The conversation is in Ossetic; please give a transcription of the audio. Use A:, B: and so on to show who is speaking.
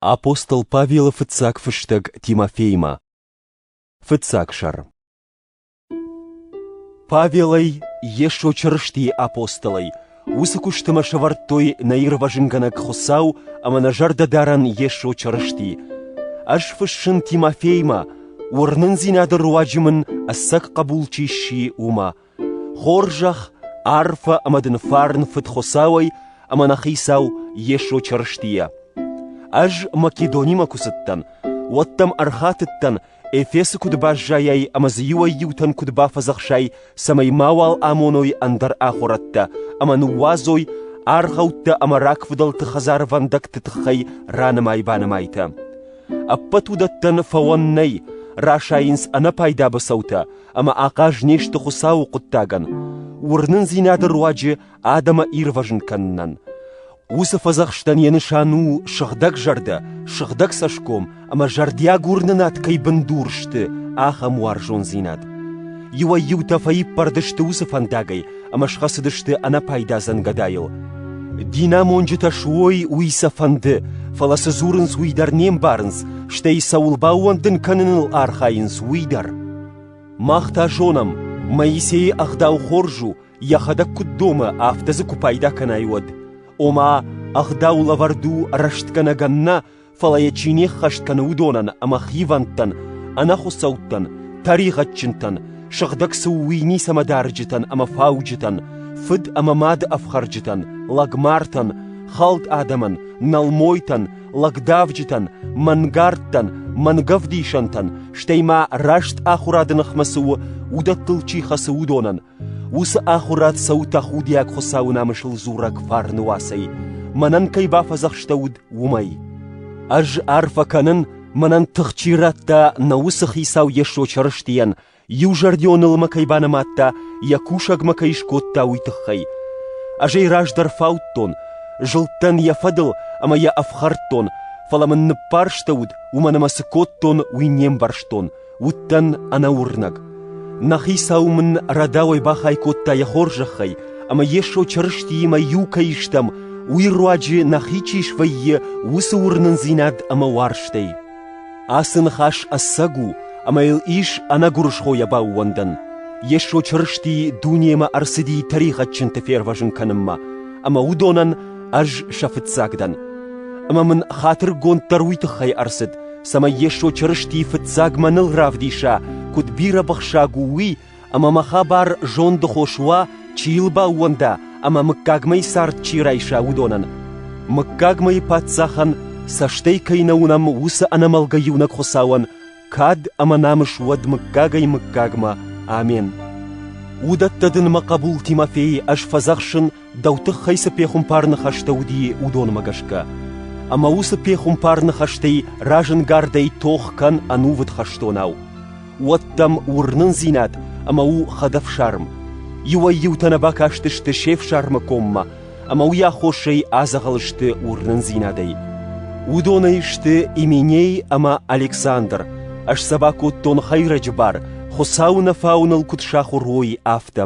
A: Апостол Павелы фыццаг фыстӕг Тимофеймӕ. Фыццаг сӕр. Павелӕй, Йесо Чырыстийы апостолӕй, уыцы куыстымӕ сӕвӕрдтой нӕ ирвӕзынгӕнӕг Хуыцау ӕмӕ нӕ зӕрдӕдарӕн Йесо Чырысти. Ӕз фыссын Тимофеймӕ, уырнындзинады руаджы мын ӕцӕг хъӕбул чи сси, уымӕ, Хорзӕх, арфӕ ӕмӕ дын фарн Фыдхуыцауӕй ӕмӕ нӕ Хицау Йесо Чырыстийӕ. Ӕз Македонимӕ куы цыдтӕн, уӕд дӕм ӕрхатыдтӕн, Эфесы куыд баззайай ӕмӕ дзы иуӕй-иутӕн куыд бафӕдзӕхсай, цӕмӕй мауал амоной ӕндӕр ахуырӕдтӕ ӕмӕ ныууадзой аргъӕуттӕ ӕмӕ рагфыдӕлты хӕдзарвӕндӕгты тыххӕй ранымай-банымайтӕ. Ӕппӕт уыдӕттӕн фӕуӕн нӕй, расайынц ӕнӕпайда быцӕутӕ ӕмӕ ахъаз не сты Хуыцауы хъуыддагӕн, уырнындзинады руаджы адӕмы ирвӕзын кӕнынӕн. Уыцы фӕдзӕхстӕн йӕ нысан у сыгъдӕг зӕрдӕ, сыгъдӕг цӕсгом ӕмӕ зӕрдиаг уырнынад кӕй бындур сты, ахӕм уарзондзинад. Иуӕй-иутӕ фӕиппӕрд сты уыцы фӕндагӕй, ӕмӕ схӕцыдысты ӕнӕпайдадзӕн гӕдайыл. Динамонджытӕ суой уый сӕ фӕнды, фӕлӕ цы дзурынц, уый дӕр не мбарынц, стӕй цӕуыл баууӕндын кӕныныл архайынц, уый дӕр. Мах та зонӕм, Моисейы ӕгъдау хорз у, йӕхӕдӕг куыд домы, афтӕ дзы куы пайда кӕнай, уӕд. Ома, ӕгъдау лӕвӕрд у рӕстгӕнӕгӕн нӕ, фӕлӕ йӕ чи не ххӕст кӕны, уыдонӕн ӕмӕ хивӕндтӕн, ӕнӕхуыцӕуттӕн, тӕригъӕдджынтӕн, сыгъдӕг цы у, уый ницӕмӕ дарджытӕн ӕмӕ фауджытӕн, фыд ӕмӕ мады ӕфхӕрджытӕн, лӕгмартӕн, хӕлд адӕмӕн, нӕлмойтӕн, лӕгдавджытӕн, мӕнгардтӕн, мӕнгӕвдисӕнтӕн, стӕй ма раст ахуырады ныхмӕ цы у, уыдӕттыл чи хӕцы, уыдонӕн, Уыцы ахуырад цӕуы тӕхудиаг Хуыцауы намысыл дзурӕг фарны уацӕй, мӕнӕн кӕй бафӕдзӕхстӕуыд, уымӕй. Ӕз арфӕ кӕнын, мӕнӕн тых чи радта нӕ уыцы Хицау Йесо Чырыстийӕн, иузӕрдионыл мӕ кӕй банымадта, йӕ кусӕг мӕ кӕй скодта, уый тыххӕй. Ӕз ӕй раздӕр фаудтон, зылдтӕн йӕ фӕдыл ӕмӕ йӕ ӕфхӕрдтон, фӕлӕ мын ныббарстӕуыд, уымӕн ӕмӕ цы кодтон, уый не мбӕрстон. Уыдтӕн ӕнӕуырнӕг. Нӕ хицау мын рӕдауӕй бахай кодта йӕ хорзӕхӕй, ӕмӕ Йесо Чырыстиимӕ иу кӕй стӕм, уый руаджы нӕхи чи свӕййы, уыцы уырнындзинад ӕмӕ уарзтӕй. Ацы ныхас ӕцӕг у, ӕмӕ йыл ис ӕнӕгуырысхойӕ баууӕндӕн. Йесо Чырысти дунемӕ ӕрцыди тӕригъӕдджынты фервӕзын кӕнынмӕ, ӕмӕ уыдонӕн ӕз сӕ фыццаг дӕн. Ӕмӕ мын хатыргонд дӕр уый тыххӕй ӕрцыд, цӕмӕй Йесо Чырыстийы фыццагмӕ ныл равдиса, куыд бирӕбыхсаг у уый, ӕмӕ мӕ хабар зондыхос уа, чи йыл баууӕнда ӕмӕ мыггагмӕйы цард чи райса, уыдонӕн. Мыггагмӕйы Паддзахӕн цӕстӕй кӕй нӕ уынӕм, уыцы ӕнӕмӕлгӕ иунӕг Хуыцауӕн кад ӕмӕ намыс уӕд мыггагӕй-мыггагмӕ. Амен. Уыдӕттӕ дын мӕ хъӕбул Тимофей ӕз фӕдзӕхсын, дӕу тыххӕй цы пехуымпар ныхӕстӕ уыди, уыдонмӕ гӕсгӕ. Ӕмӕ уыцы пехуымпар ныхӕстӕй разынгардӕй тох кӕн ӕнувыд хӕстонау. Уӕд дӕм уырнындзинад ӕмӕ у хӕдӕфсарм. Иуӕй-иутӕ нӕ бакастысты се фсармы коммӕ, ӕмӕ уый аххосӕй адзӕгъӕл сты уырнындзинадӕй. Уыдонӕй сты Именей ӕмӕ Александр, ӕз сӕ бакодтон хӕйрӕджы бар, Хуыцауы нӕ фауыныл куыд сахуыр уой, афтӕ.